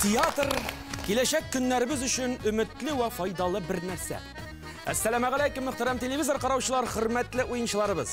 Театр, киләчәк көннәребез өчен өметле вә файдалы бер нәрсә. Әссәламәгаләйкем, мөхтәрәм телевизор караучылар, хөрмәтле уенчыларыбыз!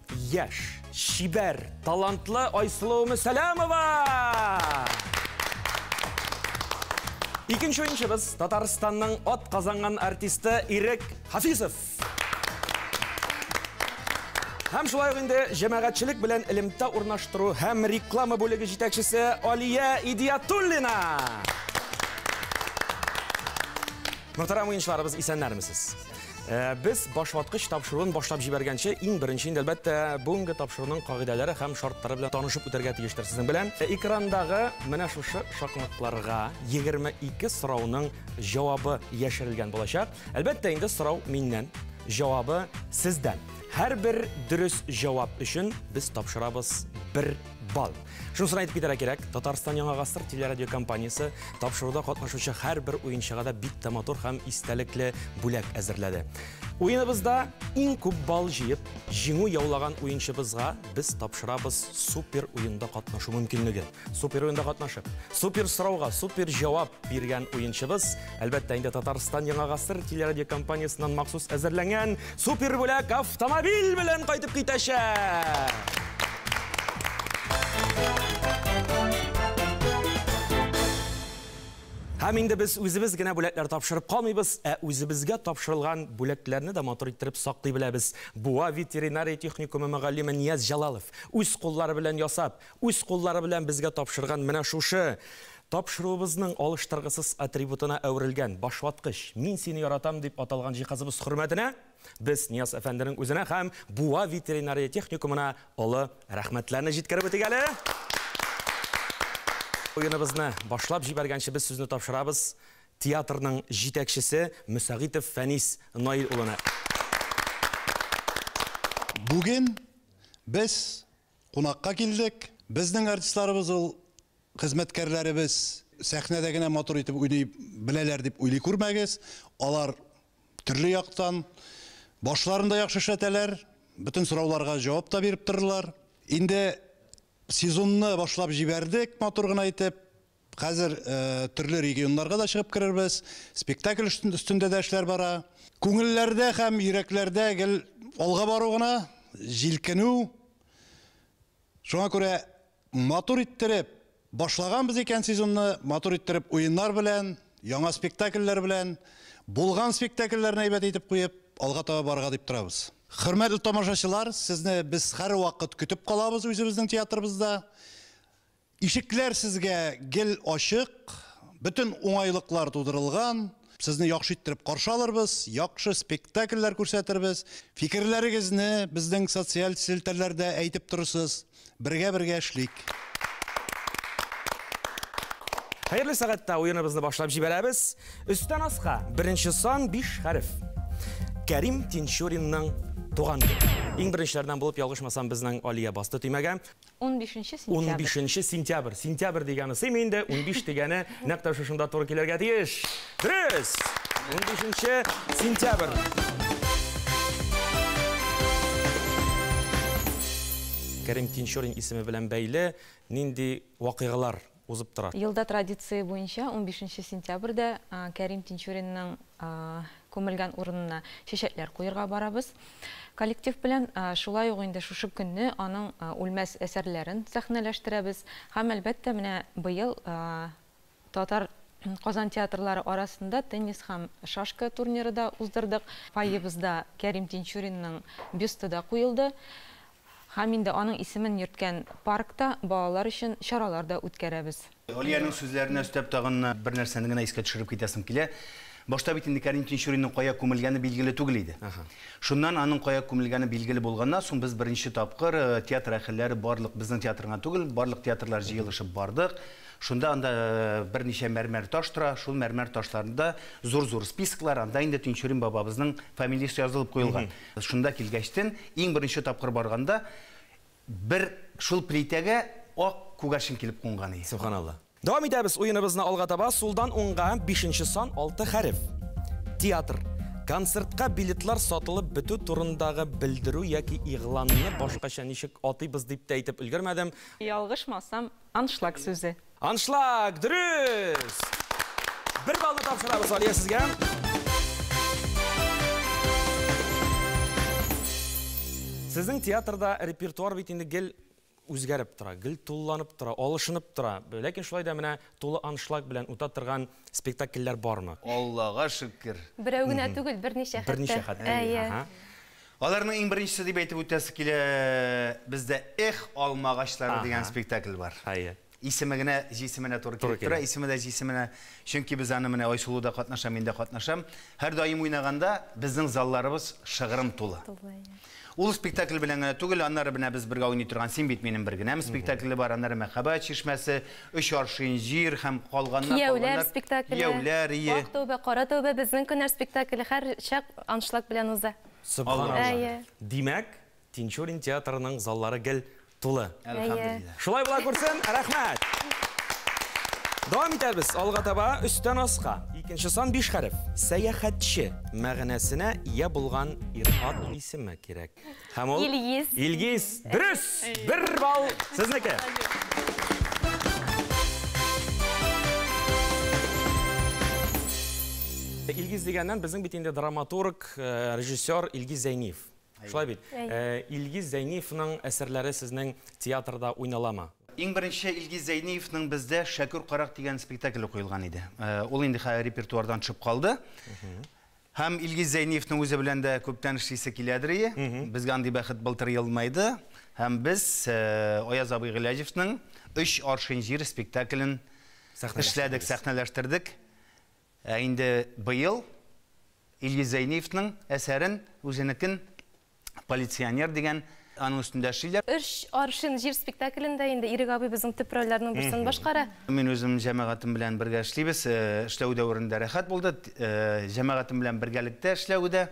Яшь, чибәр, талантлы Айсылу Мөсәләмова! Икенче уенчыбыз Татарстанның от казанган артисты Ирек Хафизов. Һәм шулай инде җәмәгатьчелек белән элемтә урнаштыру һәм реклама бүлеге җитәкчесе Алия Идиятуллина. Мөхтәрәм уенчыларыбыз, исәннәрмесез? Э, без башваткыч тапшыруын башлап җибәргәнче, иң беренче инде әлбәттә бүгенге тапшыруның кагыйдәләре һәм шартлары белән танышып үтәргә тиештер сезнең белән. Э, экрандагы менә шушы шакмакларга 22 сорауның җавабы яшерелгән булачак. Әлбәттә инде сорау миннән, җавабы сездән. Һәрбер дөрес җавап өчен без тапшырабыз бер Бал. Шунысын әйтеп китәргә кирәк, Татарстан Яңа гасыр телерадиокомпаниясе тапшыруда катнашучы һәрбер уенчыга да бик тә матур һәм истәлекле бүләк әзерләде. Уеныбызда иң күп бал җыеп, җиңү яулаган уенчыбызга без тапшырабыз супер уенда катнашу мөмкинлеге. Супер уенда катнашып, супер сорауга супер җавап биргән уенчыбыз Әлбәттә, инде Татарстан Яңа гасыр телерадиокомпаниясеннән махсус әзерләнгән супер бүләк автомобиль белән кайтып китәчәк. Һәм инде без үзебез генә бүләкләр тапшырып калмыйбыз, ә үзебезгә тапшырылган бүләкләрне дә матур иттереп саклый беләбез. Буа ветеринария техникумы мөгаллиме Нияз Җалалов үз куллары белән ясап, үз куллары белән безгә тапшырган менә шушы Тапшыруыбызның алыштыргысыз атрибутына әверелгән башваткыч Мин сине яратам дип аталган җиһазыбыз хөрмәтенә без Нияз әфәнденең үзенә һәм Буа ветеринария техникумына олы рәхмәтләрне җиткереп үтик әле. Уеныбызны башлап җибәргәнче без сүзне тапшырабыз театрның җитәкчесе Мөсәгыйтов Фәнис Наил улына. Бүген без кунакка килдек. Безнең артистларыбыз ул хезмәткәрләребез сәхнәдә генә матур итеп уйный беләләр дип уйлый күрмәгез. Алар төрле яктан башларын да яхшы эшләтәләр, бөтен сорауларга җавап та биреп торырлар. Инде сезонны башлап җибәрдек матур гына итеп. Хәзер төрле регионнарга да чыгып керербез, спектакль өстендә дә эшләр бара. Күңелләрдә һәм йөрәкләрдә гел алга бару гына, җилкенү. Шуңа күрә матур иттереп башлаганбыз икән сезонны, матур иттереп уеннар белән, яңа спектакльләр белән, булган спектакльләрне әйбәт итеп куеп, алга таба барырга дип торабыз. Хөрмәтле тамашачылар, сезне без һәрвакыт көтеп калабыз үзебезнең театрыбызда. Ишекләр сезгә гел ачык, бөтен уңайлыклар тудырылган. Сезне яхшы иттереп каршы алырбыз, яхшы спектакльләр күрсәтербез. Фикерләрегезне безнең социаль селтәрләрдә әйтеп торырсыз. Бергә-бергә эшлик. Хәерле сәгатьтә уеныбызны башлап җибәрәбез. Өстән аска, беренче сан, биш хәреф. Кәрим Тинчуринның туган көне. Иң беренчеләрдән булып, ялгышмасам, безнең Алия басты төймәгә. Унбишенче сентябрь. Унбишенче сентябрь. Сентябрь дигәне сыймый инде, унбиш дигәне нәкъ тә шушында туры килергә тиеш. Дөрес! Унбишенче сентябрь. Кәрим Тинчурин исеме белән бәйле нинди вакыйгалар узып тора. Елда традиция буенча унбишенче сентябрьдә Кәрим Тинчуринның күмелгән урынына чәчәкләр куерга барабыз коллектив белән. Шулай ук инде шушы көнне аның үлмәс әсәрләрен сәхнәләштерәбез һәм, әлбәттә, менә быел Татар Казан театрлары арасында теннис һәм шашка турниры да уздырдык. Фойебызда Кәрим Тинчуринның бюсты да куелды. Һәм инде аның исемен йөрткән паркта балалар өчен чаралар да үткәрәбез. Алиянең сүзләренә өстәп тагын бер нәрсәне генә искә төшереп китәсем килә. Башта бит инде Кәрим Тинчуринның кая күмелгәне билгеле түгел иде. Шуннан аның кая күмелгәне билгеле булганнан соң без беренче тапкыр театр әһелләре барлык, безнең театрына түгел, барлык театрлар җыелышып бардык. Шунда анда берничә мәрмәр таш тора, шул мәрмәр ташларында зур-зур списоклар, анда инде Тинчурин бабабызның фамилиясе язылып куелган. Шунда килгәчтен, иң беренче тапкыр барганда, бер шул плитәгә ак күгәрчен килеп кунган ие. Сөбханалла. Дәвам итәбез уеныбызны алга таба, сулдан уңга, бишенче сан, алты хәреф. Театр. Концертка билетлар сатылып бетү турындагы белдерү яки игъланны башкача ничек атыйбыз дип тә әйтеп өлгермәдем. Ялгышмасам, Аншлаг сүзе. Аншлаг, дөрес! Бер баллны тапшырабыз Алия сезгә. Сезнең театрда репертуар бит инде гел үзгәреп тора, гел тулыланып тора, алышынып тора. Ләкин шулай да менә тулы аншлаг белән үтә торган спектакльләр бармы? Аллага шөкер. Берәү генә түгел, берничә хәтта. Берничә хәтта. Әйе. Аларның иң беренчесе дип әйтеп үтәсе килә, бездә Эх, алма агачлары дигән спектакль бар. Әйе. Исеме генә җисеменә туры килеп тора, исеме дә җисеменә. Чөнки без аны менә Айсылу да катнаша, мин дә катнашам. Һәрдаим уйнаганда безнең залларыбыз шыгрым тулы. Ул спектакль белән генә түгел, аннары менә без бергә уйный торган Син бит минем бер генәм спектакле бар, аннары Мәхәббәт чишмәсе, Өч аршин җир һәм калганнар, Кияүләр спектакле, Кияүләр, ие. Ак тәүбә, кара тәүбә, Безнең көннәр спектакле һәр чак аншлаг белән уза. Сөбханалла. Димәк, Тинчурин театрының заллары гел тулы. Әлхәмдулиллаһ. Шулай була күрсен, рәхмәт! Дәвам итәбез, алга таба, өстән аска. Икенче сан биш хәреф. Сәяхәтче мәгънәсенә ия булган ир-ат исеме кирәк. Һәм ул Илгиз. Илгиз. Дөрес! Бер балл сезнеке. Илгиз дигәннән безнең бит инде драматург, э, режиссер Илгиз Зәйниев. Шулай бит. Э, Илгиз Зәйниевның әсәрләре сезнең театрда уйналамы? Иң беренче Илгиз Зәйниевның бездә Шәкүр карак дигән спектакле куелган иде. Э, Ул инде хәзер репертуардан төшеп калды. Һәм Илгиз Зәйниевның үзе белән дә күптән эшлисе киләдерие. Безгә андый бәхет былтыр елмайды. Һәм без э, Аяз абый Гыйләҗевның Өч аршин җир спектаклен эшләдек, сәхнәләштердек. Ә инде быел Илгиз Зәйниевның әсәрен, үзенекен полиционер дигән аның өстендә эшлиләр. Өч аршин җир спектаклендә инде Ирек абый безнең төп рольләрнең берсен башкара. Мин үзем җәмәгатем белән бергә эшлибез. Эшләү дәверендә рәхәт булды. Җәмәгатем белән бергәлектә эшләү дә.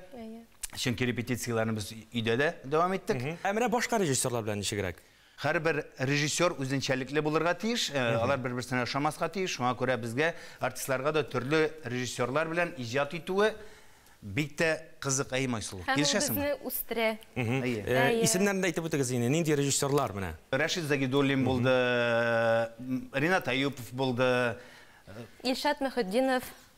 Чөнки репетицияләрне без өйдә дә дәвам иттек. Ә менә башка режиссерлар белән ничегрәк? Һәрбер режиссер үзенчәлекле булырга тиеш, алар бер-берсенә ошамаска тиеш, шуңа күрә безгә, артистларга да төрле режиссерлар белән иҗат итүе бик тә кызык, әйеме, Айсылу? Һәм ул безне үстерә. Исемнәрен дә әйтеп үтегез инде, нинди режиссерлар менә? Рәшит Загидуллин булды, Ринат Әюпов булды. Илшат Мөхетдинов.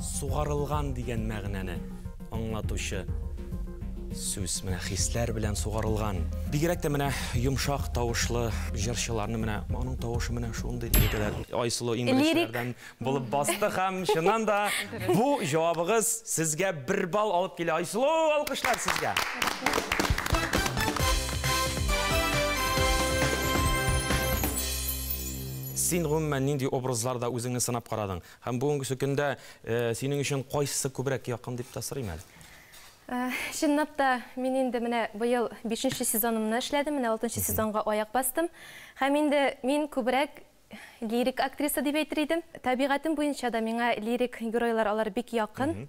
Сугарылган дигән мәгънәне аңлатучы сүз. Менә хисләр белән сугарылган. Бигрәк тә менә йомшак тавышлы җырчыларны менә аның тавышы менә шундый дигәләр. Айсылу иң беренчеләрдән булып басты һәм чыннан да бу җавабыгыз сезгә бер балл алып килә. Айсылу, алкышлар сезгә! Син гомумән нинди образларда үзеңне сынап карадың? Һәм бүгенгесе көндә синең өчен кайсысы күбрәк якын дип тә сорыйм әле? Чынлап та, мин инде менә быел бишенче сезонымны эшләдем, менә алтынчы сезонга аяк бастым. Һәм инде мин күбрәк лирик актриса дип әйтер идем. Табигатем буенча да миңа лирик геройлар алар бик якын.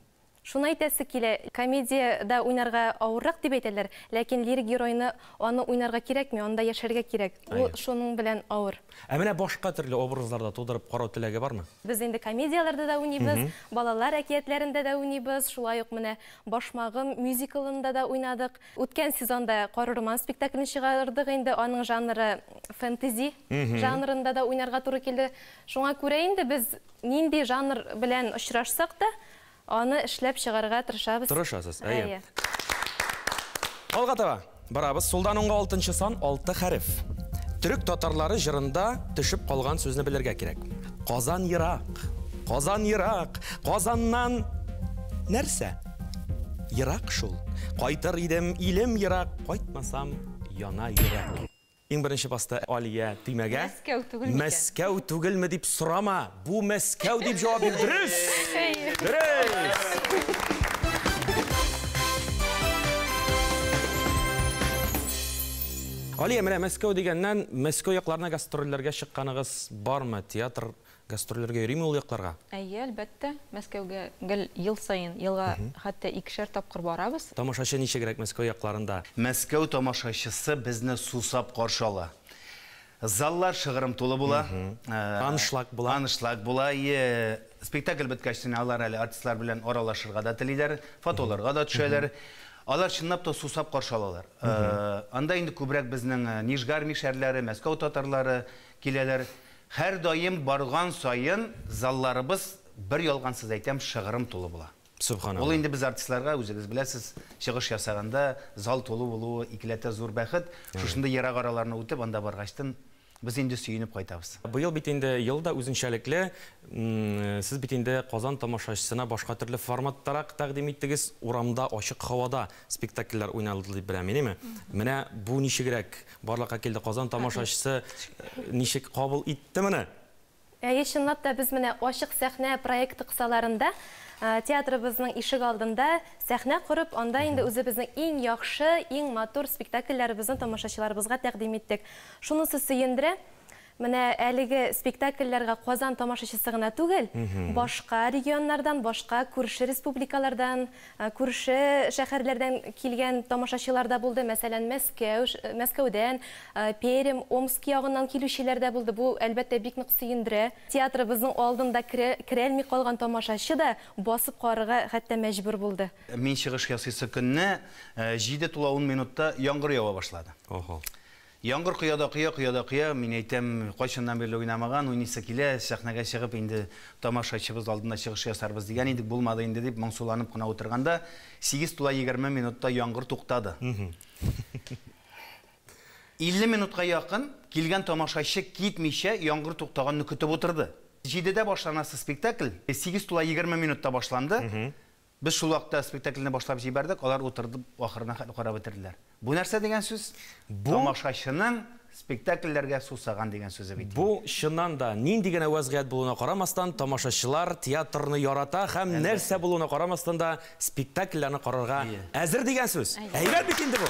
Шуны әйтәсе килә, комедиядә уйнарга авыррак дип әйтәләр, ләкин лирик геройны аны уйнарга кирәкми, анда яшәргә кирәк. Ул Әйе. шуның белән авыр. Ә менә башка төрле образларда тудырып карау теләге бармы? Без инде комедияләрдә дә уйныйбыз, балалар әкиятләрендә дә уйныйбыз, шулай ук менә Башмагым мюзиклында да уйнадык. Үткән сезонда Каһрырман спектаклен чыгардык инде, аның жанры фэнтези жанрында да уйнарга туры килде. Шуңа күрә инде без нинди жанр белән очрашсак та, Аны эшләп чыгарга тырышабыз. Тырышасыз, әйе. Әйе. Алга таба барабыз. Сулдан уңга алтынчы сан, алты хәреф. Төрек татарлары җырында төшеп калган сүзне белергә кирәк. Казан ерак, Казан ерак, Казаннан нәрсә? Ерак шул. Кайтыр идем, илем ерак, кайтмасам, яна йөрәк. Иң беренче басты Алия, төймәгә. Мәскәү түгел микән? Мәскәү түгелме дип сорама, бу Мәскәү дип җавап бир. Дөрес! Дөрес! Алия, менә Мәскәү дигәннән, Мәскәү якларына гастрольләргә чыкканыгыз бармы? Театр Гастрольләргә йөриме ул якларга? Әйе, әлбәттә. Мәскәүгә гел ел саен, елга хәтта икешәр тапкыр барабыз. Тамашачы ничегрәк Мәскәү якларында? Мәскәү тамашачысы безне сусап каршы ала. Заллар шыгрым тулы була. Аншлаг була. Аншлаг була, әйе. Спектакль беткәч тенә алар әле артистлар белән аралашырга да телиләр, фотоларга да төшәләр. Алар чынлап та сусап каршы алалар. Анда инде күбрәк безнең Нижгармиш әрләре, Мәскәү татарлары, Киләләр. Һәрдаим барган саен залларыбыз, бер ялгансыз әйтәм, шыгрым тулы була. Ул инде без артистларга, үзегез беләсез, чыгыш ясаганда зал тулы булуы икеләтә зур бәхет. Шушындый ерак араларны үтеп анда баргачтын без инде сөенеп кайтабыз. Быел бит инде ел да үзенчәлекле. Сез бит инде Казан тамашачысына башка төрле форматтарак тәкъдим иттегез, урамда, ачык һавада спектакльләр уйналды дип беләм мин, әйеме? Менә бу ничегрәк? Барлыкка килде Казан тамашачысы ничек кабул итте моны? Әйе, чынлап та без менә Ачык сәхнә проекты кысаларында театрыбызның ишек алдында сәхнә корып, анда инде үзебезнең иң яхшы, иң матур спектакльләребезне тамашачыларыбызга тәкъдим иттек. Шунысы сөендерә. Менә әлеге спектакльләргә Казан тамашачысы гына түгел, башка регионнардан, башка күрше республикалардан, күрше шәһәрләрдән килгән тамашачылар да булды. Мәсәлән, Мәскәү, Мәскәүдән, Пермь, Омск ягыннан килүчеләр дә булды. Бу, әлбәттә, бик нык сөендерә. Театрыбызның алдында керәлми калган тамашачы да басып карарга хәтта мәҗбүр булды. Мин чыгыш ясыйсы көнне җиде тула ун минутта яңгыр ява башлады. Яңгыр коя да коя, коя да коя. Мин әйтәм, кайчаннан бирле уйнамаган, уйныйсы килә, сәхнәгә чыгып, инде тамашачыбыз алдында чыгыш ясарбыз дигән идек, булмады инде, дип моңсуланып кына утырганда, сигез тула егерме минутта яңгыр туктады. 50 минутка якын килгән тамашачы китмичә, яңгыр туктаганны көтеп утырды. Җидедә башланасы спектакль сигез тула егерме минутта башланды. Без шул вакытта спектакльне башлап җибәрдек, алар утырдып ахырына хәтле карап бетерделәр. Бу нәрсә дигән сүз? Бу... Тамашачының спектакльләргә сусаган дигән сүзе бит инде. Бу, чыннан да, нинди генә вәзгыять булуына карамастан, тамашачылар театрны ярата һәм нәрсә булуына карамастан да, спектакльләрне карарга әзер дигән сүз. Әйбәт бит инде бу!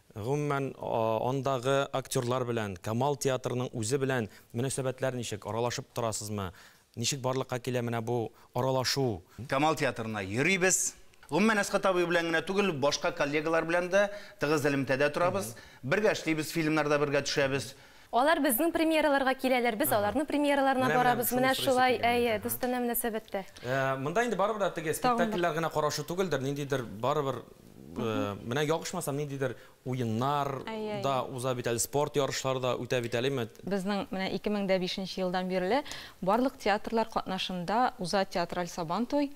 Гомумән, андагы актерлар белән, Камал театрының үзе белән мөнәсәбәтләр ничек? Аралашып торасызмы? Ничек барлыкка килә менә бу аралашу? Камал театрына йөрибез. Гомумән, Әсгать абый белән генә түгел, башка коллегалар белән дә тыгыз элемтәдә торабыз. Бергә эшлибез, фильмнарда бергә төшәбез. Алар безнең премьераларга киләләр, без аларның премьераларына барабыз. Менә шулай, әйе, дустанә мөнәсәбәттә. Монда инде барыбер дә теге спектакльләр генә карашу түгелдер, ниндидер барыбер Э, менә ягышмаса ниндидер уеннар да уза бит әле спорт ярышлары да үтә бит әлеме безнең менә 2005 елдан бирле барлык театрлар катнашында уза театраль сабан туй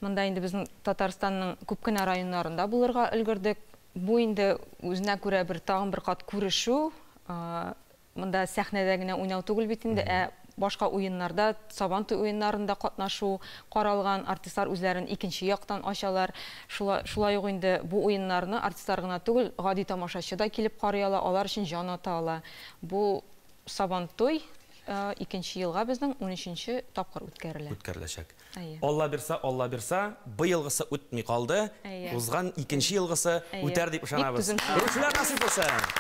монда инде безнең татарстанның күп кенә районнарында булырга өлгердек бу инде үзенә күрә бер тагын бер кат күрешү э, Монда сәхнәдә генә уйнау түгел бит инде, ә башка уеннарда, Сабантуй уеннарында катнашу каралган. Артистлар үзләрен икенче яктан ачалар. Шулай шулай ук инде бу уеннарны артистлар гына түгел, гади тамашачы да килеп карый ала, алар өчен җан ата ала. Бу Сабантуй икенче елга безнең унөченче тапкыр үткәрелә. Үткәреләчәк. Әйе. Аллабирса, Аллабирса, быелгысы үтми калды, Әйе. узган икенче елгысы Әйе. үтәр дип Бик ышанабыз. түзем кеше. Күрүчеләр насыйп булсын!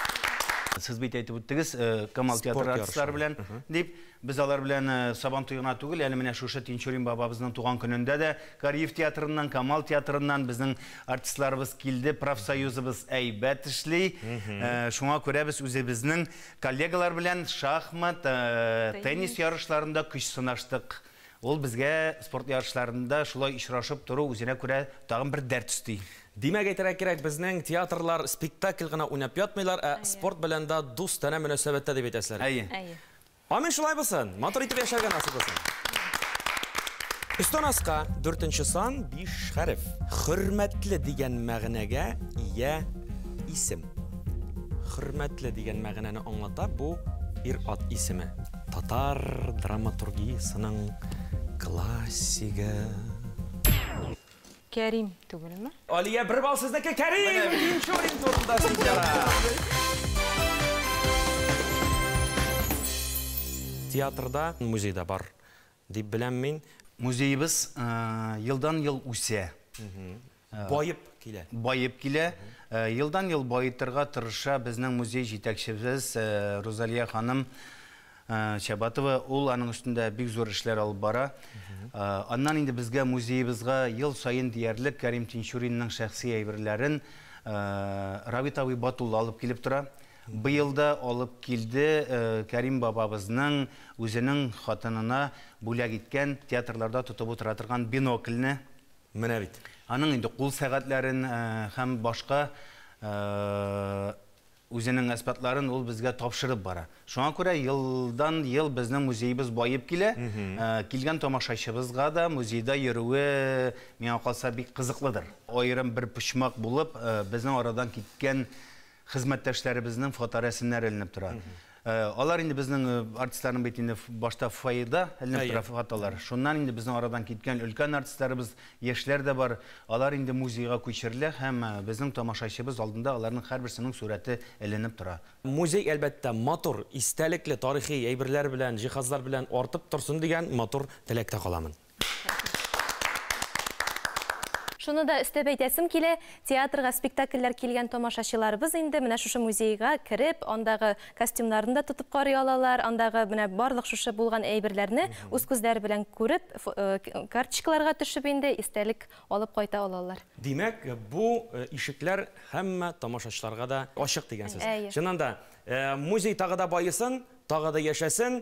Сез бит әйтеп үттегез, э, Камал Спорт театры ярышы. артистлары белән Мгм. дип. Без алар белән э, Сабан туе гына түгел, әле менә шушы Тинчурин бабабызның туган көнендә дә Кариев театрыннан, Камал театрыннан безнең артистларыбыз килде. Профсоюзыбыз әйбәт эшли. Э, Шуңа күрә без үзебезнең коллегалар белән шахмат, э, теннис ярышларында көч сынаштык. Ул безгә спорт ярышларында шулай очрашып тору үзенә күрә тагын бер дәрт өсти. Димәк, әйтергә кирәк, безнең театрлар спектакль гына уйнап ятмыйлар, ә спорт белән дә дустанә мөнәсәбәттә дип әйтәселәр. Әйе. Әйе. Амин, шулай булсын. Матур итеп яшәргә насыйп булсын. Өстән аска, дүртенче сан, биш хәреф. Хөрмәтле дигән мәгънәгә ия исем. Хөрмәтле дигән мәгънәне аңлата бу ир-ат исеме. Татар драматургиясенең классигы. Кәрим түгелме? Алия, бер бал сезнеке, Кәрим! Икенче уен турында судьялар. Театрда, музейда бар. дип беләм мин. Музеебыз елдан-ел үсә. Баеп килә. Баеп килә. Елдан-ел баетырга тырыша безнең музей җитәкчебез Рузалия ханым Чабатова. Ул аның өстендә бик зур эшләр алып бара. Аннан инде безгә, музеебызга ел саен диярлек Кәрим Тинчуринның шәхси әйберләрен Равит абый Батулла алып килеп тора. Быел да алып килде Кәрим бабабызның үзенең хатынына бүләк иткән, театрларда тотып утыра торган бинокльне. Менә бит. Аның инде кул сәгатьләрен һәм башка үзенең әсбапларын ул безгә тапшырып бара. Шуңа күрә елдан-ел безнең музеебыз баеп килә. Килгән тамашачыбызга да музейда йөрүе, миңа калса, бик кызыклыдыр. Аерым бер почмак булып, безнең арадан киткән хезмәттәшләребезнең фоторәсемнәре эленеп тора. Алар инде безнең артистларның бит инде башта фойеда эленеп тора фотолар. Шуннан инде безнең арадан киткән өлкән артистларыбыз, яшьләр дә бар. Алар инде музейга күчерелә һәм безнең тамашачыбыз алдында аларның һәрберсенең сурәте эленеп тора. Музей, әлбәттә, матур, истәлекле тарихи әйберләр белән, җиһазлар белән артып торсын дигән матур теләктә каламын. Шуны да өстәп әйтәсем килә, театрга спектакльләр килгән тамашачыларыбыз инде менә шушы музейга кереп, андагы костюмнарны да тотып карый алалар, андагы менә барлык шушы булган әйберләрне үз күзләре белән күреп, карточкаларга төшеп инде истәлек алып кайта алалар. Димәк, бу ишекләр һәммә тамашачыларга да ачык дигән сүз. Чыннан да, музей тагы да баесын, тагы да яшәсен!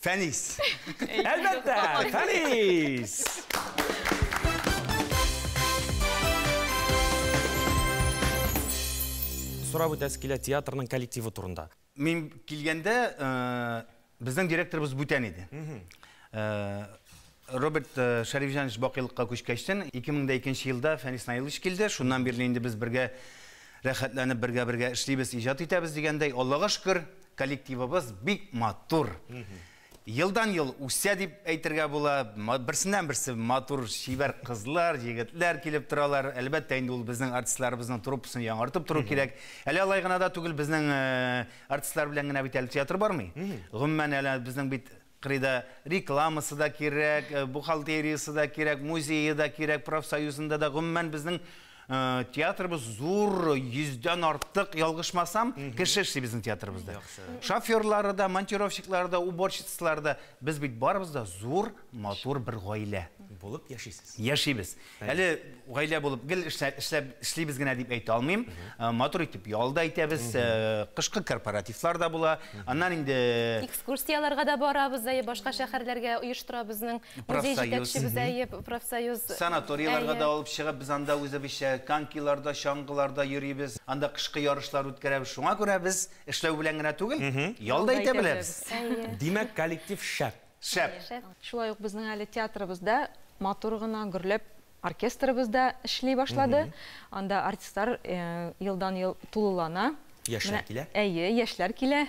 Фәнис. Әлбәттә, Фәнис! Сорап үтәсе килә театрның коллективы турында. Мин килгәндә, э, безнең директорыбыз бүтән иде. Э, Роберт Шәрифҗанович бакыйлыкка күчкәчтен, 2002 елда Фәнис Наилович килде. Шуннан бирле инде без бергә рәхәтләнеп бергә-бергә эшлибез, иҗат итәбез дигәндәй, Аллага шөкер, коллективыбыз бик матур. Елдан-ел үсә дип әйтергә була. Берсеннән-берсе матур, чибәр кызлар, егетләр килеп торалар. Әлбәттә инде ул безнең артистларыбызның труппасын яңартып тору кирәк. Әле алай гына да түгел, безнең артистлар белән генә бит әле театр бармый. Гомумән, әле безнең бит Кырыйда рекламасы да кирәк, бухгалтериясе дә кирәк, музее да кирәк, профсоюзында да. Гомумән, безнең театрыбыз зур, йөздән артык, ялгышмасам, кеше эшли безнең театрыбызда. Шоферлары да, монтировщиклары да, уборщицалары да. Без бит барыбыз да зур, матур бер гаилә. Булып яшисез. Яшибез. Әле гаилә булып гел эшләп эшлибез генә дип әйтә алмыйм. Э, матур итеп ял да итәбез, э, кышкы корпоративлар да була. Аннан инде экскурсияләргә дә барабыз, әйе, башка шәһәрләргә оештыра безнең музей җитәкчебез, әйе, профсоюз. Санаторийларга да алып чыгып, без анда үзебезчә конькиларда, чаңгыларда йөрибез. Анда кышкы ярышлар үткәрәбез. Шуңа күрә без эшләү белән генә түгел, ял да итә беләбез. Димәк, коллектив шәп. Шәп! Шулай ук безнең әле театрыбыз да матур гына гөрләп, оркестрыбыз да эшли башлады. Анда артистлар елдан-ел тулылана. Яшьләр килә. Әйе, яшьләр килә.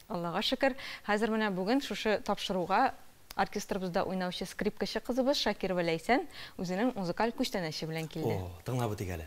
Аллага шөкер. Хәзер менә бүген шушы тапшыруга оркестрыбызда уйнаучы скрипкачы кызыбыз Шакирова Ләйсән үзенең музыкаль күчтәнәче белән килде. О, тыңлап үтик әле.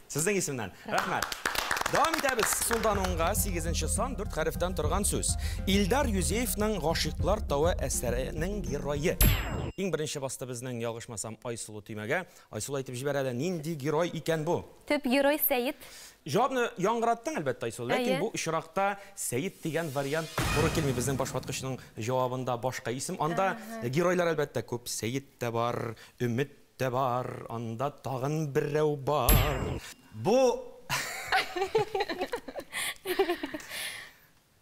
Сезнең исемнән. Рәхмәт. Дәвам итәбез. Сулдан уңга, сигезенче сан, дүрт хәрефтән торган сүз. Илдар Юзеевның Гашыйклар тавы әсәренең герое. Иң беренче басты безнең, ялгышмасам, Айсылу төймәгә. Айсылу әйтеп җибәр әле, нинди герой икән бу? Төп герой, Сәет. Җавапны яңгыраттың, әлбәттә, Айсылу, ләкин бу очракта Сәет дигән вариант туры килми. Безнең башваткычның җавабында башка исем. Анда геройлар, әлбәттә, күп. Сәет тә бар, Өмет Дә бар, анда тагын берәү бар. Бу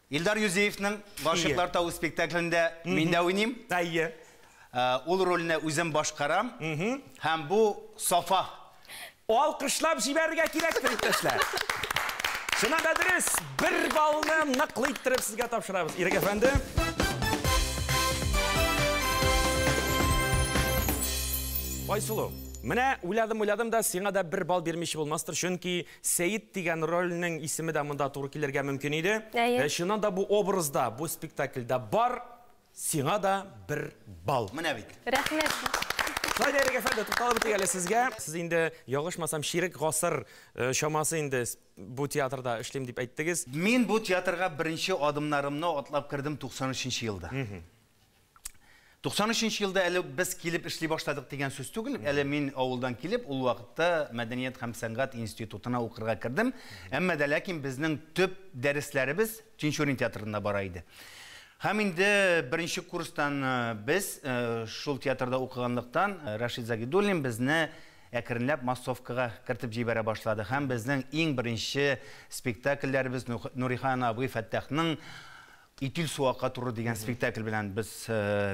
Илдар Юзеевның Гашыйклар тавы спектаклендә мин дә уйныйм. Әйе. Ул рольне үзем башкарам. Һәм бу Сафа. Алкышлап җибәрергә кирәктер, иптәшләр. Чыннан да дөрес, бер баллны ныклы иттереп сезгә тапшырабыз, Ирек әфәнде. Айсылу, менә уйладым-уйладым да, сиңа да бер бал бирмичә булмастыр, чөнки Сәет дигән рольнең исеме дә монда туры килергә мөмкин иде. Әйе. Ә чыннан да бу образда, бу спектакльдә бар, Сиңа да бер балл. Менә бит. Рәхмәт. Саидә Ирек әфәнде, тукталып үтик әле сезгә. Сез инде, ялгышмасам, чирек гасыр чамасы инде бу театрда эшлим дип әйттегез. Мин бу театрга беренче адымнарымны атлап кердем 93 нче елда. 93 нче елда әле без килеп эшли башладык дигән сүз түгел, әле мин авылдан килеп, ул вакытта мәдәният һәм сәнгать институтына укырга кердем. Әмма дә ләкин безнең төп дәресләребез Тинчурин театрында бара иде. Һәм инде беренче курстан без, шул театрда укыганлыктан, Рәшит Загидуллин безне әкренләп массовкага кертеп җибәрә башлады һәм безнең иң беренче спектакльләребез Нурихан абый Фәттахның Итил су ака туры дигән спектакль белән без,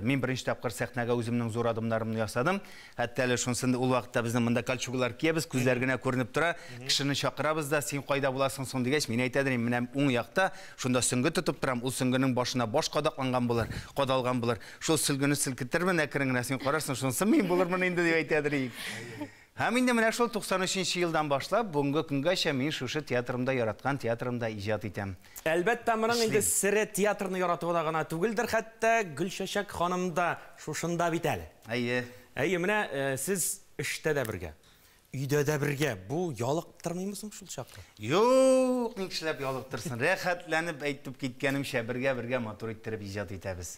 мин беренче тапкыр сәхнәгә үземнең зур адымнарымны ясадым. Хәтта әле шунсын да ул вакытта безнең монда кольчугалар киябез, күзләр генә күренеп тора. Кешене чакырабыз да, син кайда буласың соң дигәч, мин әйтә дим, менә уң якта, шунда сөнгө тотып торам, ул сөнгенең башына баш кадакланган булыр, кадалган булыр. Шул сөлгене селкетермен әкрен генә, син карарсың, шунысы мин булырмын инде, дип әйтә дим. Һәм инде менә шул 93 нче елдан башлап, бүгенге көнгәчә мин шушы театрымда, яраткан театрымда иҗат итәм. Әлбәттә, моның инде сере театрны яратуда гына түгелдер, хәтта Гөлчәчәк ханым да шушында бит әле. Әйе. Әйе, менә сез эштә дә бергә, өйдә дә бергә, бу ялыктырмыймы соң шул чакта? Юк, ник эшләп ялыктырсын, рәхәтләнеп әйтеп киткәнемчә, бергә-бергә матур иттереп иҗат итәбез.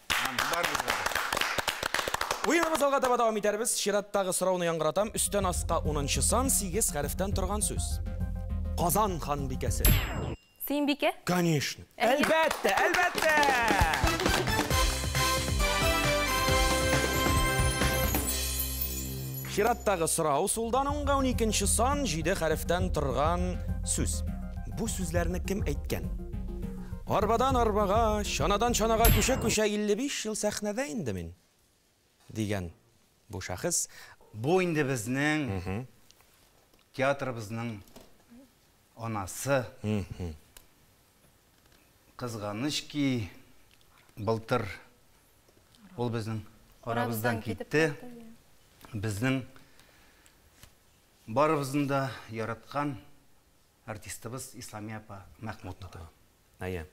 Уеныбыз алга таба дәвам итәрбез. Чираттагы сорауны яңгыратам. Өстән аска унынчы сан, сигез хәрефтән торган сүз. Казан ханбикәсе. Сөембикә? Конечно. Әлбәттә, әлбәттә! Чираттагы сорау, сулдан уңга уникенче сан, җиде хәрефтән торган сүз. Бу сүзләрне кем әйткән? Арбадан арбага, чанадан чанага күчә-күчә 55 ел сәхнәдә инде мин, дигән бу шәхес. Бу инде безнең театрыбызның анасы. Кызганыч ки, былтыр ул безнең арабыздан китте. Безнең барыбызның да яраткан. Артистыбыз Исламия апа Мәхмүтова. Әйе.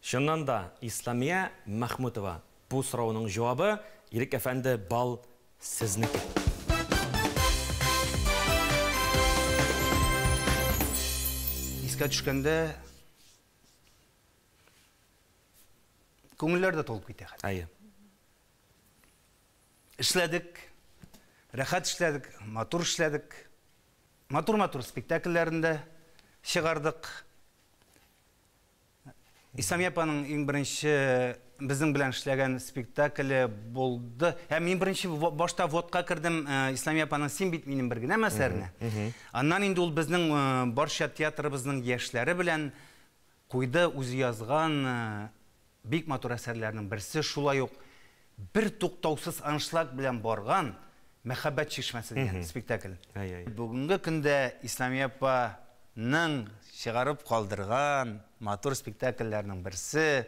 Чыннан да, Исламия Мәхмүтова, бу сорауның җавабы, Ирек әфәнде, бал сезнеке. Искә төшкәндә, күңелләр дә тулып китә хәтта. Әйе. Эшләдек, рәхәт эшләдек, матур эшләдек. Матур-матур спектакльләрен дә чыгардык. Исламия апаның иң беренче безнең белән эшләгән спектакле булды. Ә мин беренче башта водка кердем э, Исламия апаның Син бит минем бер генә мәсәрне. Аннан инде ул безнең э, барча театрыбызның яшьләре белән Куйды үзе язган бик матур әсәрләренең берсе, шулай ук бертуктаусыз аншлаг белән барган Мәхәббәт чишмәсе дигән спектакль. Бүгенге көндә Исламия апаның чыгарып калдырган матур спектакльләренең берсе.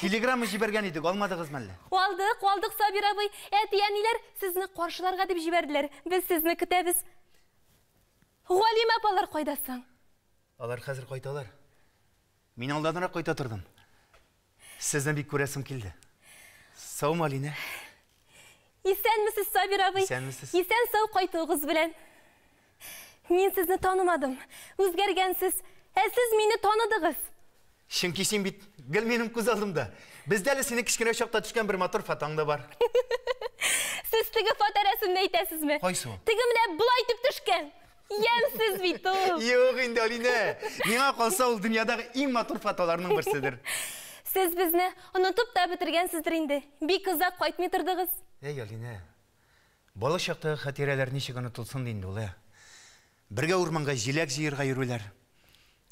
Телеграмма җибәргән идек, алмадыгыз мәллә? Алдык, алдык, Сабир абый. Әти-әниләр сезне каршыларга дип җибәрделәр. Без сезне көтәбез. Галим апалар кайда соң? Алар хәзер кайталар. Мин алданрак кайта тордым. Сезне бик күрәсем килде. Саумы, Алинә? Исәнмесез, Сабир абый. Исәнмесез. Исән сау кайтуыгыз белән. Мин сезне танымадым. Үзгәргәнсез. Ә сез мине таныдыгыз. Чөнки син бит гел минем күз алдымда. Бездә әле синең кечкенә чакта төшкән бер матур фотоң да бар. Сез теге фоторәсемне әйтәсезме? Кайсы ул? Теге менә болай итеп төшкән. Ямсыз бит ул! Юк инде, Алинә! Миңа калса, ул дөньядагы иң матур фотоларның берседер. Сез безне онытып та бетергәнсездер инде, бик озак кайтмый тордыгыз. Әй, Алинә, балык чактагы хатирәләр ничек онытылсын ди инде ул, ә? Бергә урманга җиләк җыерга йөрүләр,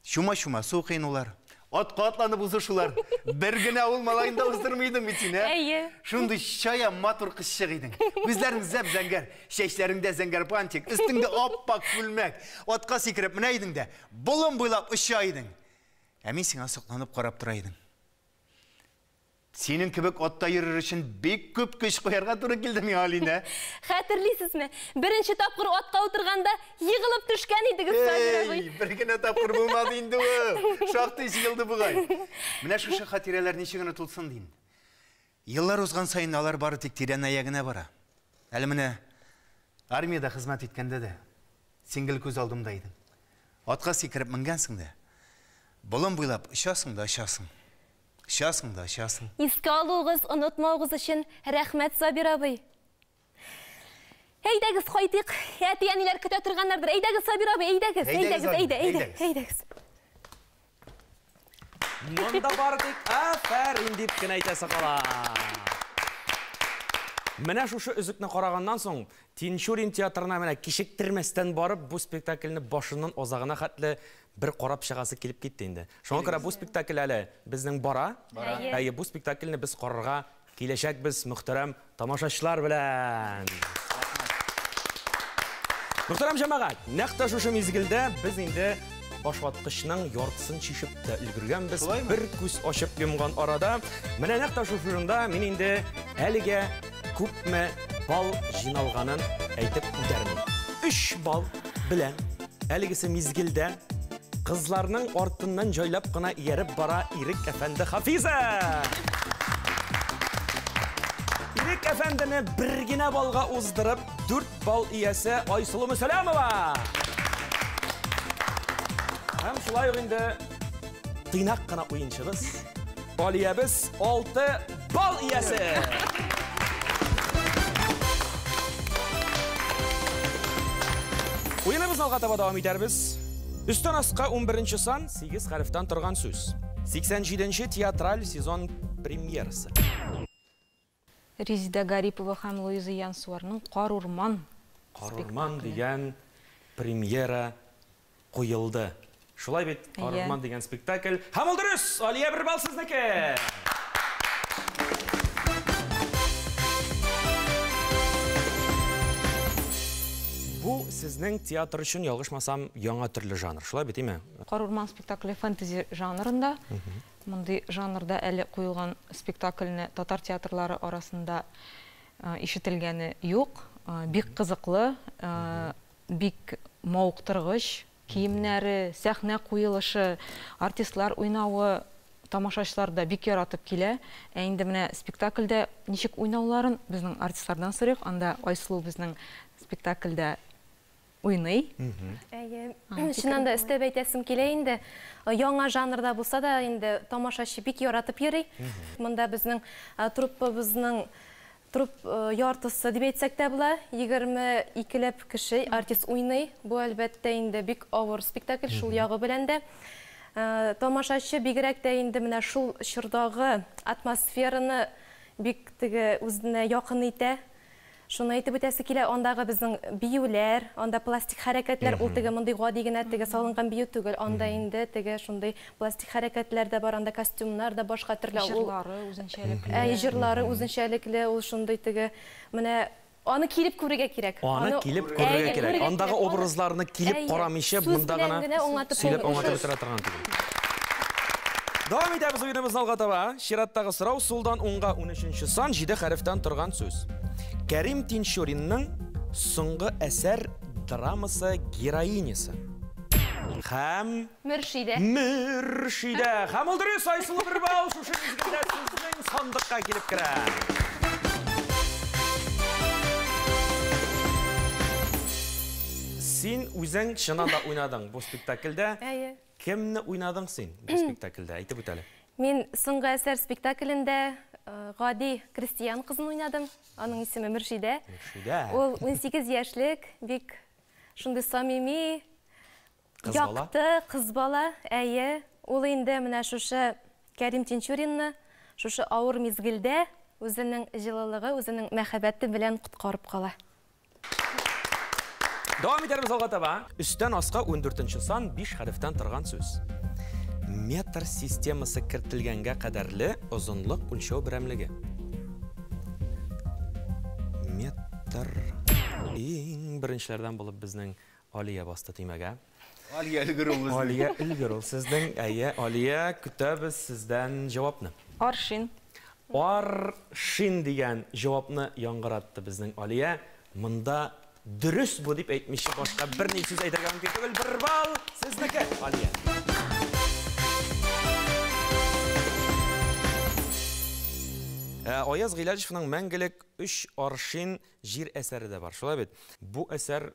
Чума-чума су кыйнулар, атка атланып узышулар. Бер генә авыл малаен да уздырмый идең бит син, ә? Әйе. Шундый чая матур кызчык идең. Күзләрең зәп-зәңгәр, чәчләреңдә зәңгәр бантик, өстеңдә ап-ак күлмәк. Атка сикереп менә идең дә, болын буйлап оча идең. Ә мин сиңа сокланып карап тора идем. Синең кебек атта йөрер өчен бик күп көч куярга туры килде миңа, Алинә. Хәтерлисезме? Беренче тапкыр атка утырганда егылып төшкән идегез, Сабир абый. Эй, бер генә тапкыр булмады инде ул. Шактый җыелды бугай. Менә шушы хатирәләр ничек онытылсын дим. Еллар узган саен алар бары тик тирәнәя генә бара. Әле менә армиядә хезмәт иткәндә дә син гел күз алдымда идең. Атка сикереп менгәнсең дә, болын буйлап очасың да очасың. Часың да часың. Искә алуыгыз, онытмавыгыз өчен рәхмәт, Сабир абый. Әйдәгез, кайтыйк. Әти-әниләр көтә торганнардыр. Әйдәгез, Сабир абый, әйдәгез, әйдәгез, әйдә, әйдә, әйдәгез. Монда бар бит, афәрин дип кенә әйтәсе кала. Менә шушы өзекне караганнан соң, Тинчурин театрына менә кичектермәстән барып, бу спектакльне башыннан азагына хәтле Бер карап чыгасы килеп китте инде. Шуңа күрә бу спектакль әле безнең бара. Әйе, бу спектакльне без карарга киләчәкбез мөхтәрәм тамашачылар белән. Мөхтәрәм җәмәгать, нәкъ тә шушы мизгелдә без инде башваткычның яртысын чишеп тә өлгергәнбез. Бер күз ачып йомган арада, менә нәкъ тә шушы урында мин инде әлегә күпме бал җыйналганын әйтеп үтәрмен. Өч бал белән әлегесе мизгелдә кызларның артыннан җайлап кына ияреп бара Ирек әфәнде Хафиза! Ирек әфәндене бер генә балга уздырып, дүрт бал иясе Айсылу Мөсәләмова! Һәм шулай ук инде тыйнак кына уенчыбыз, Алиябез алты Бал иясе! Уеныбыз алга таба дәвам итәрбез. Өстән аска 11 сан 8 хәрефтән торган сүз. 87 театраль сезон премьерасы. Резида Гарипова һәм Луиза Янсуарның Карурман. Карурман дигән премьера куелды. Шулай бит, Аргман дигән спектакль. Һәм ул дөрес! Алия бер балл сезнеке! Бу сезнең театр өчен, ялгышмасам, яңа төрле жанр. Шулай бит, име? Карурман спектакле фэнтези жанрында. Мондый жанрда әле куелган спектакльне татар театрлары арасында ишетелгәне юк. Бик кызыклы. Бик мавыктыргыч, киемнәре, сәхнә куелышы, артистлар уйнавы тамашачылар да бик яратып килә. Ә инде менә спектакльдә ничек уйнауларын безнең артистлардан сорыйк. Анда Айсылу безнең спектакльдә уйный. Әйе, чыннан да өстәп әйтәсем килә инде, яңа жанрда булса да инде тамашачы бик яратып йөри. Монда безнең труппабызның Труп яртысы дип әйтсәк тә була, егерме икеләп кеше, артист уйный. Бу, әлбәттә инде, бик авыр спектакль, шул ягы белән дә. Тамашачы бигрәк тә инде менә шул чордагы атмосфераны бик теге үзенә якын итә. Шуны әйтеп үтәсе килә, андагы безнең биюләр, анда пластик хәрәкәтләр, ул теге мондый гади генә теге салынган бию түгел, анда инде теге шундый Пластик хәрәкәтләр дә бар анда, костюмнар да башка төрле. Җырлары үзенчәлекле. Әй, җырлары үзенчәлекле, ул шундый теге, менә аны килеп күрергә кирәк. Аны килеп күрергә кирәк. Андагы образларны килеп карамыйча монда гына сөйләп аңлатып бетерә торган түгел. Дәвам итәбез уеныбызны алга таба. Чираттагы сорау, сулдан уңга унөченче сан, җиде хәрефтән торган сүз. Кәрим Тинчуринның соңгы әсәр драмасы героинясы һәм Мөршидә. Мөршидә. Һәм ул дөрес, Айсылу бер балл, шушы мизгелдә сезнең сандыкка килеп керә. Син үзең чыннан да уйнадың бу спектакльдә. Әйе. Кемне уйнадың син бу спектакльдә? Әйтеп үт әле. Мин Соңгы әсәр спектаклендә гади крестьян кызын уйнадым. Аның исеме Мөршидә. Мөршидә. Ул унсигез яшьлек, бик шундый самими, Кыз бала? Якты кыз бала, әйе. Ул инде менә шушы Кәрим Тинчуринны шушы авыр мизгелдә үзенең җылылыгы, үзенең мәхәббәте белән коткарып кала. Дәвам итәрбез алга таба. Өстән аска ундүртенче сан биш хәрефтән торган сүз. Метр системасы кертелгәнгә кадәрле озынлык үлчәү берәмлеге. Метр. Иң беренчеләрдән булып безнең Алия басты төймәгә. Алия өлгер ул безнең. Алия өлгер ул сезнең. Әйе, Алия, көтәбез сездән җавапны. Аршин. Ар-шин дигән җавапны яңгыратты безнең Алия. Монда дөрес бу дип әйтмичә башка берни сүз әйтергә мөмкин түгел. Бер балл сезнеке, Алия. Ә Аяз Гыйләҗевның Мәңгелек өч аршин җир әсәре дә бар, шулай бит? Бу әсәр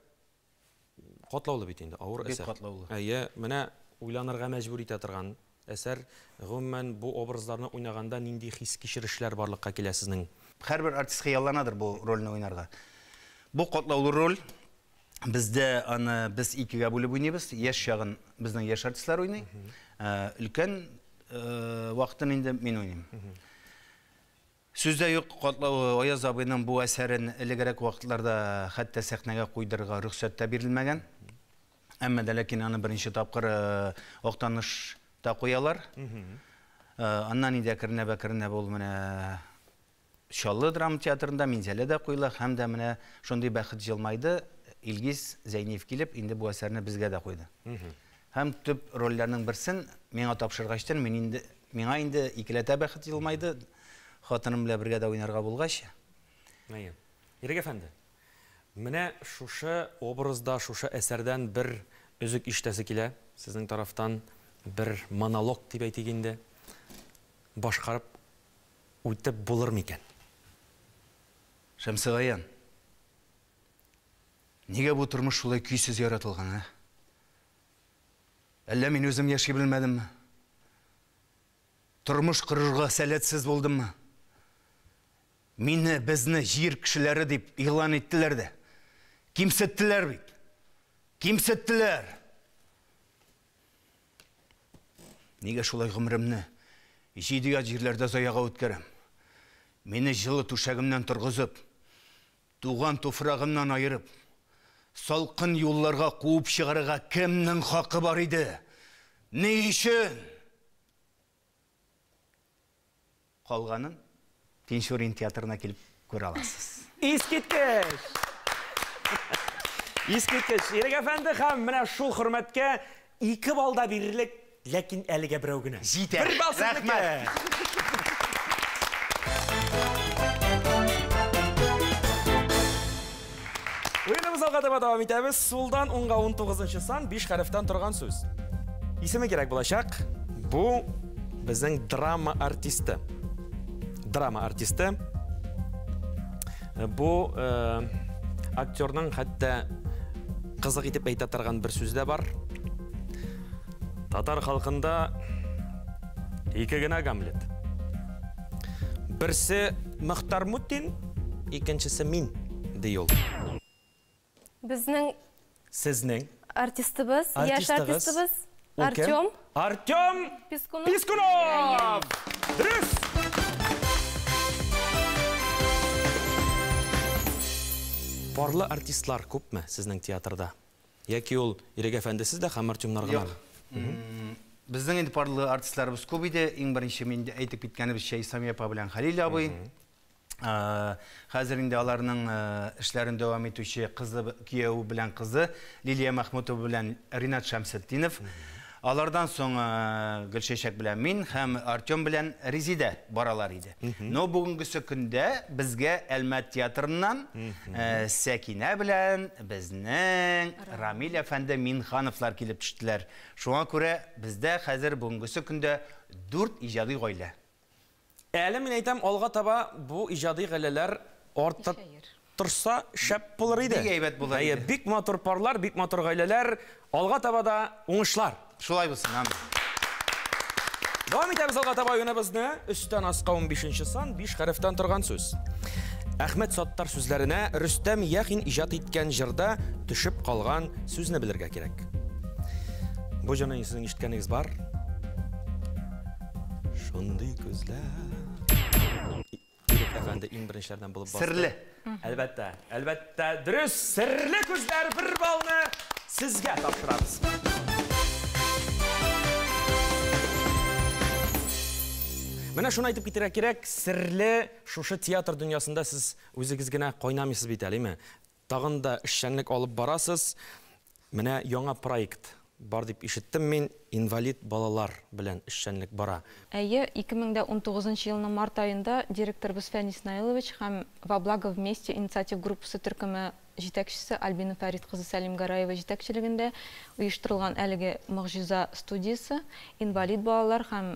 Катлаулы бит инде, авыр әсәр. Бик катлаулы. Әйе, менә уйланырга мәҗбүр итә торган әсәр. Гомумән, бу образларны уйнаганда нинди хис-кичерешләр барлыкка килә сезнең? Һәрбер артист хыялланадыр бу рольне уйнарга. Бу катлаулы роль. Бездә аны без икегә бүлеп уйныйбыз. Яшь чагын безнең яшь артистлар уйный. Өлкән вакытын инде мин уйныйм. Сүз дә юк, катлау Аяз абыйның бу әсәрен элегрәк вакытларда хәтта сәхнәгә куйдырырга рөхсәт тә бирелмәгән. Әмма дә ләкин аны беренче тапкыр Актанышта куялар. Аннан инде әкренләп-әкренләп ул менә Чаллы драма театрында, Минзәләдә куела һәм дә менә шундый бәхет җылмайды, Илгиз Зәйниев килеп, инде бу әсәрне безгә дә куйды. Һәм төп рольләрнең берсен миңа тапшыргачтын, мин инде Миңа инде икеләтә бәхет елмайды, хатыным белән бергә дә уйнарга булгач. Әйе. Ирек әфәнде, менә шушы образда, шушы әсәрдән бер өзек ишетәсе килә, сезнең тарафтан бер монолог дип әйтик инде, башкарып үтеп булыр микән? Шәмсегаян, нигә бу тормыш шулай көйсез яратылган, ә? Әллә мин үзем яши белмәдемме? Тормыш корырга сәләтсез булдыммы? Мине, безне җир кешеләре дип игълан иттеләр дә. Кимсеттеләр бит. Кимсеттеләр! Нигә шулай гомеремне җиде ят җирләрдә заяга үткәрәм? Мине җылы түшәгемнән торгызып, Туган туфрагыннан аерып, салкын юлларга куып чыгарырга кемнең хакы бар иде? Ни өчен? Калганын Тинчурин театрына килеп күрә аласыз. Искиткеч! Искиткеч! Ирек әфәнде һәм менә шул хөрмәткә Ике балл да бирерлек, ләкин әлегә берәү генә. Җитә. Бер балл сезнеке. Уеныбыз алга таба дәвам итәбез. Сулдан уңга 19 нчы сан, биш хәрефтән торган сүз. Исеме кирәк булачак. Бу безнең драма артисты. Драма артисты. Бу актерның хәтта кызык итеп әйтә торган бер сүз дә бар. Татар халкында ике генә Гамлет. Берсе Мөхтар Мутин, икенчесе мин, ди ул. Безнең. Сезнең. Артистыбыз. Яшь артистыбыз. Артем. Артем. Пискунов. Пискунов. Дөрес. Парлы артистлар күпме сезнең театрда? Яки ул Ирек әфәндесез дә һәм Артемнар гына? Юк. Безнең инде парлы артистларыбыз күп иде. Иң беренче мин әйтеп киткәнебезчә Исламия апа белән Хәлил абый. Хәзер инде аларның эшләрен дәвам итүче кызы, кияве белән кызы Лилия Мәхмүтова белән Ринат Шәмсетдинов. Алардан соң Гөлчәчәк белән мин һәм Артем белән Резидә баралар иде. Но бүгенгесе көндә безгә Әлмәт театрыннан Сәкинә белән безнең Рамил әфәнде Минхановлар килеп төштеләр. Шуңа күрә бездә хәзер бүгенгесе көндә дүрт иҗади гаилә. Әле мин әйтәм, алга таба бу иҗади гаиләләр арта торса, шәп булыр иде. Бик әйбәт булыр иде. Бик матур парлар, бик матур гаиләләр, алга таба да уңышлар. Шулай булсын, амин. Дәвам итәбез алга таба уеныбызны. Өстән аска 15 нче сан, 5 хәрефтән торган сүз. Әхмәт Саттар сүзләренә Рөстәм Яхин иҗат иткән җырда төшеп калган сүзне белергә кирәк. Бу җырны сез ишеткәнегез бар. Шундый күзләр. Ирек әфәнде иң беренчеләрдән булып басты. Серле. Әлбәттә, әлбәттә, дөрес. Серле күзләр бер балны сезгә тапшырабыз. Менә шуны әйтеп китәргә кирәк, серле шушы театр дөньясында сез үзегез генә кайнамыйсыз бит әле, име? Тагын да эшчәнлек алып барасыз. Менә яңа проект бар дип ишеттем мин, инвалид балалар белән эшчәнлек бара. Әйе, 2019 нчы елның март аенда директорыбыз Фән Иснаилович һәм Во благо вместе инициатив группасы төркеме җитәкчесе Альбина Фәрит кызы Сәлимгәрәева җитәкчелегендә оештырылган әлеге могҗиза студиясе инвалид балалар һәм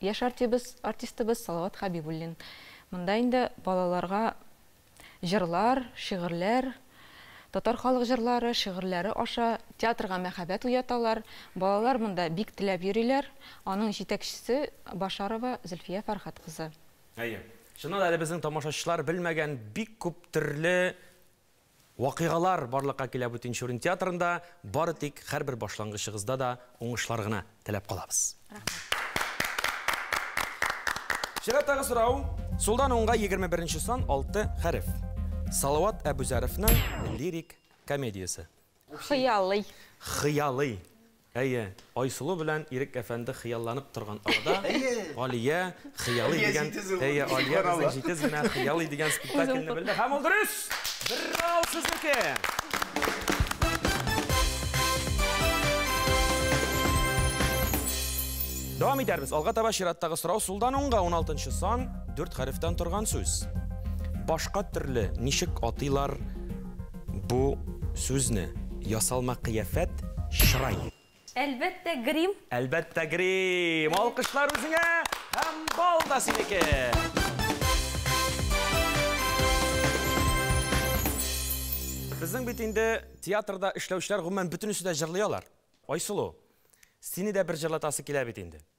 Яшь артибыз, артистыбыз Салават Хәбибуллин. Монда инде балаларга җырлар, шигырьләр, татар халык җырлары, шигырьләре аша театрга мәхәббәт уяталар. Балалар монда бик теләп йөриләр. Аның җитәкчесе Башарова Зөлфия Фәрхәт кызы. Әйе. Чыннан да әле безнең тамашачылар белмәгән бик күп төрле Вакыйгалар барлыкка килә бу тинчурин театрында, бары тик хәрбер башлангычыгызда да уңышлар гына теләп калабыз. Рәхмәт. Чираттагы сорау, сулдан уңга егерме беренче сан алты хәреф. Салават Әбүзәровның лирик комедиясе. Хыялый. Хыялый. Әйе, Айсылу белән Ирек әфәнде хыялланып торган арада, Алия хыялый дигән, әйе, Алия безнең җитез генә хыялый дигән спектакльне белде. Һәм ул дөрес! Бер балл сезнеке! Дәвам итәрбез. Алга таба чираттагы сорау сулдан уңга 16 сан, 4 хәрефтән торган сүз. Башка төрле ничек атыйлар? Бу сүзне ясалма кыяфәт, чырай. Әлбәттә, грим. Әлбәттә, грим. Алкышлар үзеңә һәм бал да синеке. Безнең бит инде театрда эшләүчеләр гомумән бөтенесе дә җырлый алар. Айсылу, сине дә бер җырлатасы килә бит инде.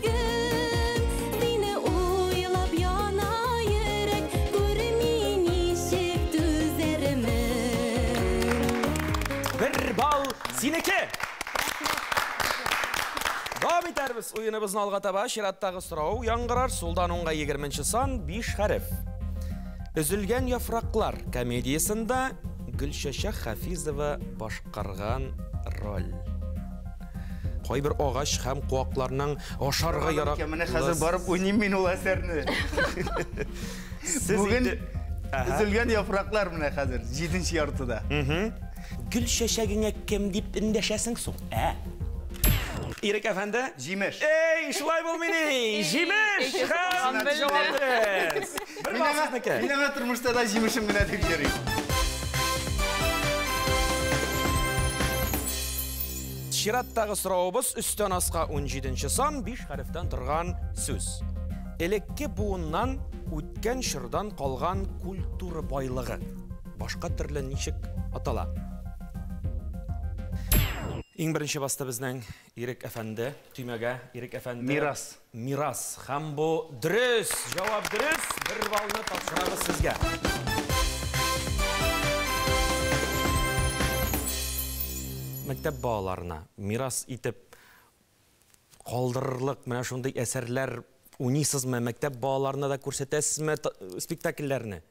Гүм, мине уйлап яна йөрәк, күрми ничек түзәрмен. Бер балл синеке! Дәвам итәрбез уеныбызны алга таба. Чираттагы сорау яңгырар. Сулдан уңга егерменче сан, биш хәреф. Өзелгән яфраклар комедиясендә Гөлчәчәк Хафизова башкарган роль. Кайбер агач һәм куакларның ашарга ярак. Менә хәзер барып уйныйм мин ул әсәрне. Бүген Үзелгән яфраклар менә хәзер, җиденче яртыда. Гөл чәчәгеңә кем дип эндәшәсең соң, ә? Ирек әфәнде? Җимеш. Эй, шулай булмый ни! Җимеш! Хәммә җавап бирез! Бер басызныкы. Мин аңа тормышта да җимешем генә дип йөрим. Чираттагы соравыбыз өстән аска 17 нче сан биш хәрефтән торган сүз. Элекке буыннан үткән чордан калган культура байлыгы. Башка төрле ничек атала? Иң беренче басты безнең Ирек әфәнде, төймәгә Ирек әфәнде. Мирас. Мирас. Һәм бу дөрес! Җавап дөрес! Бер баллны тапшырабыз сезгә. Мәктәп балаларына мирас итеп калдырырлык менә шундый әсәрләр уйныйсызмы? Мәктәп балаларына да күрсәтәсезме спектакльләрне?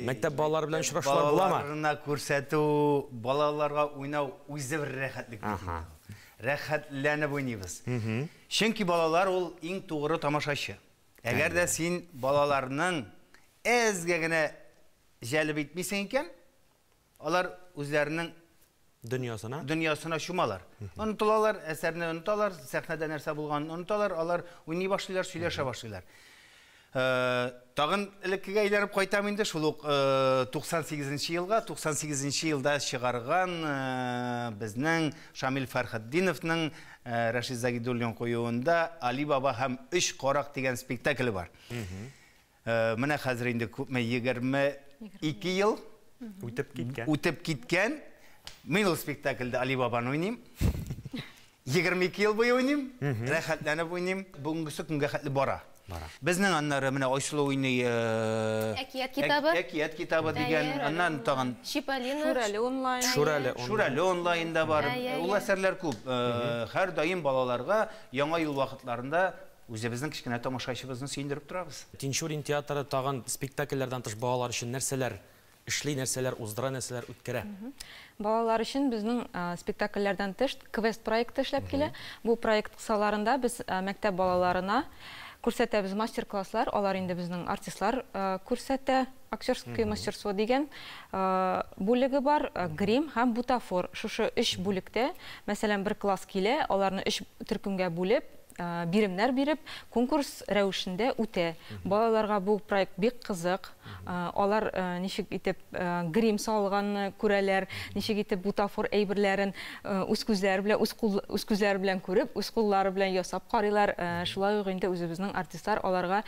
Мәктәп балалары белән очрашулар буламы? Мәктәп балаларына күрсәтү, балаларга уйнау үзе бер рәхәтлек бит инде. Рәхәтләнеп уйныйбыз. Чөнки балалар ул иң тугры тамашачы. Әгәр дә син балаларның әзгә генә җәлеп итмисең икән, алар үзләренең дөньясына дөньясына чумалар. Онытылалар, әсәрне оныталар, сәхнәдә нәрсә булганын оныталар, алар уйный башлыйлар, сөйләшә башлыйлар. Э, тагын элеккегә әйләнеп кайтам инде, шул ук 98 э, нче елга. 98 нче елда чыгарган э, безнең Шамил Фәрхетдиновның Рәшид Загидуллин куюында Али баба һәм өч карак дигән спектакле бар. Менә хәзер инде күпме 22 ел үтеп киткән. Үтеп киткән. Мин ул спектакльдә Али бабаны уйныйм. 22 ел буе уйныйм, рәхәтләнеп уйныйм. Бүгенгесе көнгә хәтле бара. Бара. Безнең аннары менә Айсылу уйный. Әкият китабы. Әкият китабы дигән, аннан тагын. Чиполлино. Шүрәле онлайн. Шүрәле. Шүрәле онлайн да бар. Ул әсәрләр күп. Һәрдаим балаларга Яңа ел вакытларында үзебезнең кечкенә тамашачыбызны сөендереп торабыз. Тинчурин театры тагын спектакльләрдән тыш балалар өчен нәрсәләр Эшли нәрсәләр, уздыра нәрсәләр, үткәрә. Балалар өчен безнең спектакльләрдән тыш квест проекты эшләп килә. Бу проект кысаларында без мәктәп балаларына күрсәтәбез мастер-класслар, алар инде безнең артистлар күрсәтә. Актерское мастерство дигән бүлеге бар, грим һәм бутафор. Шушы өч бүлектә, мәсәлән, бер класс килә, аларны өч төркемгә бүлеп, биремнәр биреп, конкурс рәвешендә үтә. Балаларга бу проект бик кызык. Алар ничек итеп грим салганны күрәләр, ничек итеп бутафор әйберләрен үз күзләре белән, үз күзләре белән күреп, үз куллары белән ясап карыйлар. Шулай ук инде үзебезнең артистлар аларга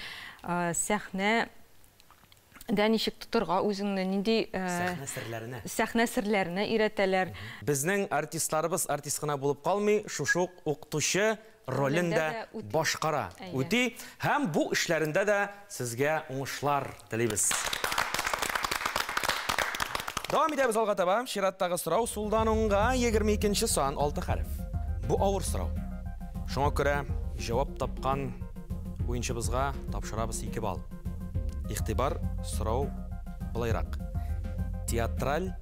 сәхнә дә ничек тотырга үзеңне, нинди сәхнә серләренә өйрәтәләр. Безнең артистларыбыз артист кына булып калмый, шушы ук укытучы ролен дә башкара, үти. Һәм бу эшләрендә дә сезгә уңышлар телибез. Дәвам итәбез алга таба. Чираттагы сорау, сулдан уңга, 22 нче сан, 6 хәреф. Бу авыр сорау. Шуңа күрә җавап тапкан уенчыбызга тапшырабыз 2 балл. Игътибар, сорау болайрак, театраль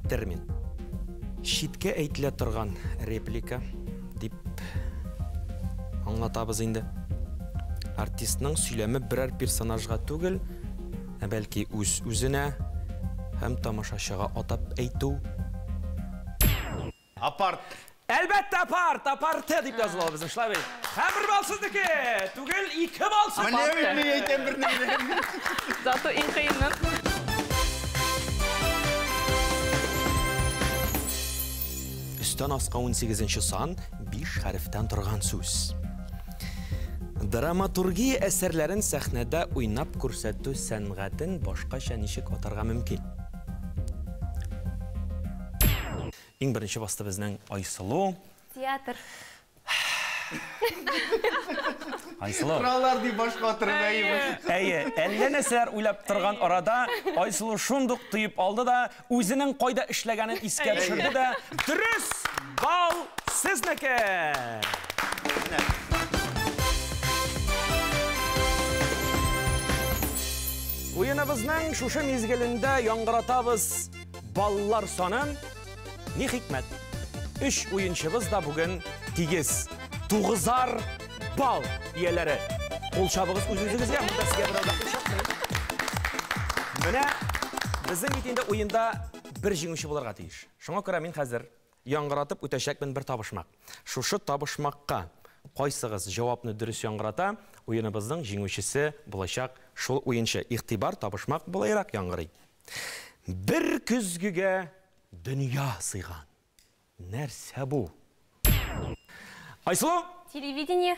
термин. Читкә әйтелә торган реплика дип аңлатабыз инде. Артистның сөйләме берәр персонажга түгел, ә бәлки үз үзенә һәм тамашачыга атап әйтү Апарт. Әлбәттә, апарт, апарты дип языла безнең, шулай бит. Һәм бер бал сезнеке. Түгел, ике бал сез. Менә мин ни әйтәм бернигә. Зато иң кыены. Өстән аска унсигезенче сан, биш хәрефтән торган сүз. Драматургия әсәрләрен сәхнәдә уйнап күрсәтү сәнгатен башкача ничек атарга мөмкин? Иң беренче басты безнең Айсылу. Театр. Айсылу. Кыралар ди башка атырып әйе. Әйе, әллә нәрсәләр уйлап торган арада Айсылу шундук тоеп алды да, үзенең кайда эшләгәнен искә төшерде дә, дөрес бал сезнеке! Рәхмәт. Уеныбызның шушы мизгелендә яңгыратабыз баллар санын. Ни хикмәт? Өч уенчыбыз да бүген тигез. Тугызар бал ияләре. Кул чабыгыз үзегезгә, монда сезгә берәү дә кул Менә безнең бит инде уенда бер җиңүче булырга тиеш. Шуңа күрә мин хәзер Яңгыратып үтәчәкмен бер табышмак. Шушы табышмакка кайсыгыз җавапны дөрес яңгырата, уеныбызның җиңүчесе булачак шул уенчы. Игътибар, табышмак болайрак яңгырый. Бер көзгегә дөнья сыйган. Нәрсә бу? Айсылу! Телевидение.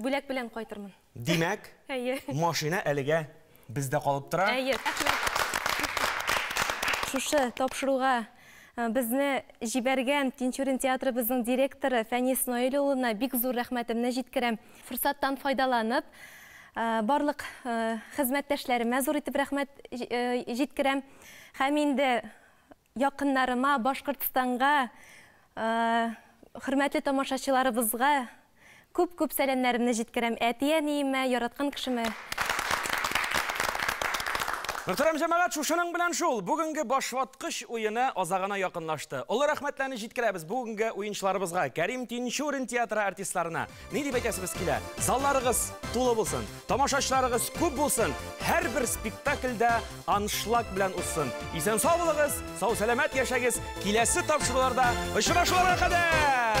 Бүләк белән кайтырмын. Димәк, Әйе. машина әлегә бездә калып тора. Әйе. Шушы тапшыруга безне җибәргән Тинчурин театрыбызның директоры Фәнис Наил улына бик зур рәхмәтемне җиткерәм. Форсаттан файдаланып, барлык хезмәттәшләремә зур итеп рәхмәт җиткерәм. Һәм инде Якыннарыма, Башкортстанга, хөрмәтле тамашачыларыбызга күп-күп сәламнәремне җиткерәм. Әти-әниемә, яраткан кешемә. Мөхтәрәм җәмәгать, шушының белән шул, бүгенге башваткыч уены азагына якынлашты. Олы рәхмәтләрне җиткерәбез бүгенге уенчыларыбызга, Кәрим Тинчурин театры артистларына, Ни дип әйтәсегез килә? Залларыгыз тулы булсын, тамашачыларыгыз күп булсын, һәрбер спектакльдә аншлаг белән узсын. Исән сау булыгыз, сау сәламәт яшәгез. Киләсе тапшыруларда очрашуларга кадәр!